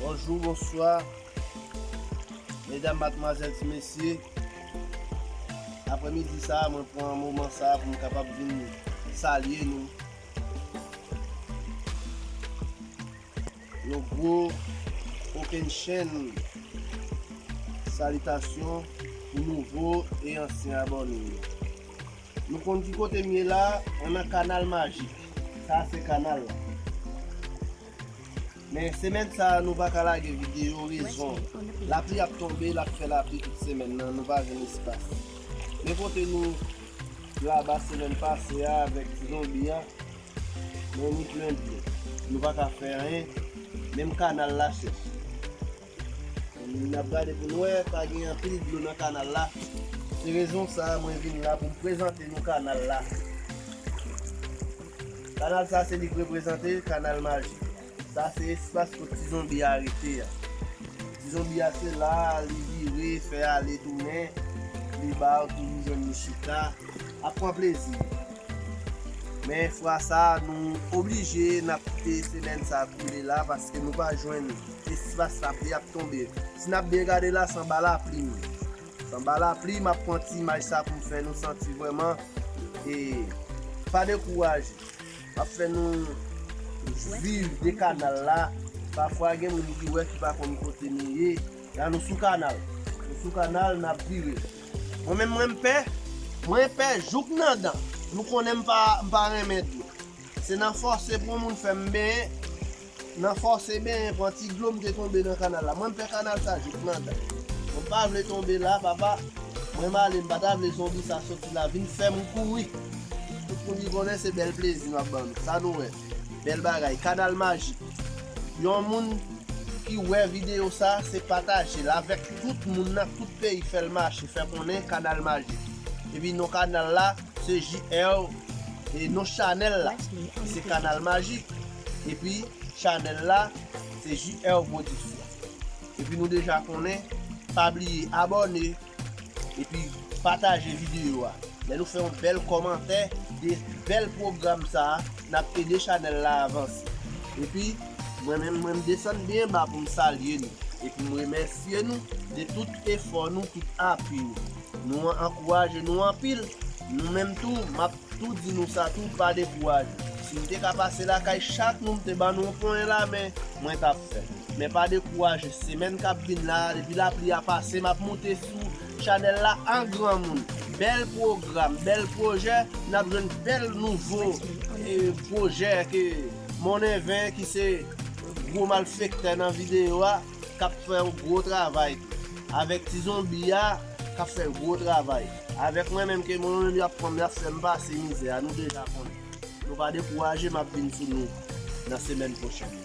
Bonjou, bonswa, medam, matmwazèl, ti mesye, aprè midi sa a mwen pran moman sa a pou m kapab vin salye nou. Yon gwo kokennchenn salitasyon pou nouvo e ansyen abòne yo. Nou konn ki kote m ye la a? Mwen nan kanal majik. Sa a se kanal la. Men semèn sa a nou pa ka lage videyo, rezon, lapli ap tonbe, l ap fè lapli tout semèn nan, nou pa jwenn espas. Men kote nou laba semèn pase a avèk ti zonbi a, men li plen dlo. Nou pa ka fè anyen, menm kanal la chèch. N ap gade pou n wè, pa gen anpil dlo nan kanal la. Se rezon sa a mwen vin la pou m prezante nou kanal la. Kanal sa a se li k reprezante kanal majik la. Sa se espas kot ti zonbi a rete a. Ti zonbi a se la a li vire, fè ale tounen, li ba ou toujou jwenn li chita, ap pran plezi li. Men fwa sa a nou oblije n ap kite semèn sa a koule la paske nou pa jwenn. Espas lapli ap tonbe. Si n ap byen gade la san ba lapli m. San ba lapli m ap pran ti imaj sa pou m fè nou santi vrèman e pa dekouraje. M ap fè nou viv de kanal la. Pafwa gen moun ki wè ki pa konn kote nou ye. La nou sou kanal. Nou sou kanal n ap vire. Mwen menm mwen pè. Mwen pè jouk nan dan. Nou konnen m pa renmen dlo. Se nan fòse pou yon moun fè m benyen. Nan fòse benyen pran ti dlo m te tonbe nan kanal la mwen m fè kanal sa jouk nan dan mwen pa vle tonbe la papa mwen m ale m pa ta vle zonbi sa soti la vin fè m kouri tout moun ki konnen se bèl plezi m ap ban nou sa nou wè bèl bagay kanal majik yon moun ki wè videyo sa se pataje l avèk tout moun nan tout peyi fè l mache fè konnen kanal majik epi non kanal la se JR e non chanèl la se kanal majik. Epi chanel la se JR production. Epi nou deja konnen pa bliye abone epi pataje video a. Lè nou fè yon bèl komantè de bèl program sa nap ede chanel la avanse. Epi mwen menm mwen desann byen ba poum salye nou e poum remèsye nou de tout efò nou tout apui nou. Nou an ankouraje nou anpil nou menm tou map tou di nou sa tou pa dekouraje si m te ka pase lakay chak nou m te ban nou yon ponyen lamen mwen tap fè men pa dekouraje semèn kap vin la depi lapli a pase map moute sou chanèl la an granmoun bèl pwogram bèl pwojè nap jwenn bèl nouvo pwojè ke monnen ven ki se gwo malfektè nan videyo a. kap fè yon gwo travay tou avèk ti zonbi a kap fè gwo travay avèk mwen menm ke mwen menm yap pranm yap fèm pase mizè a nou deja konnen nou pa dekouraje map vin sou nou nan semèn pwochèn nan.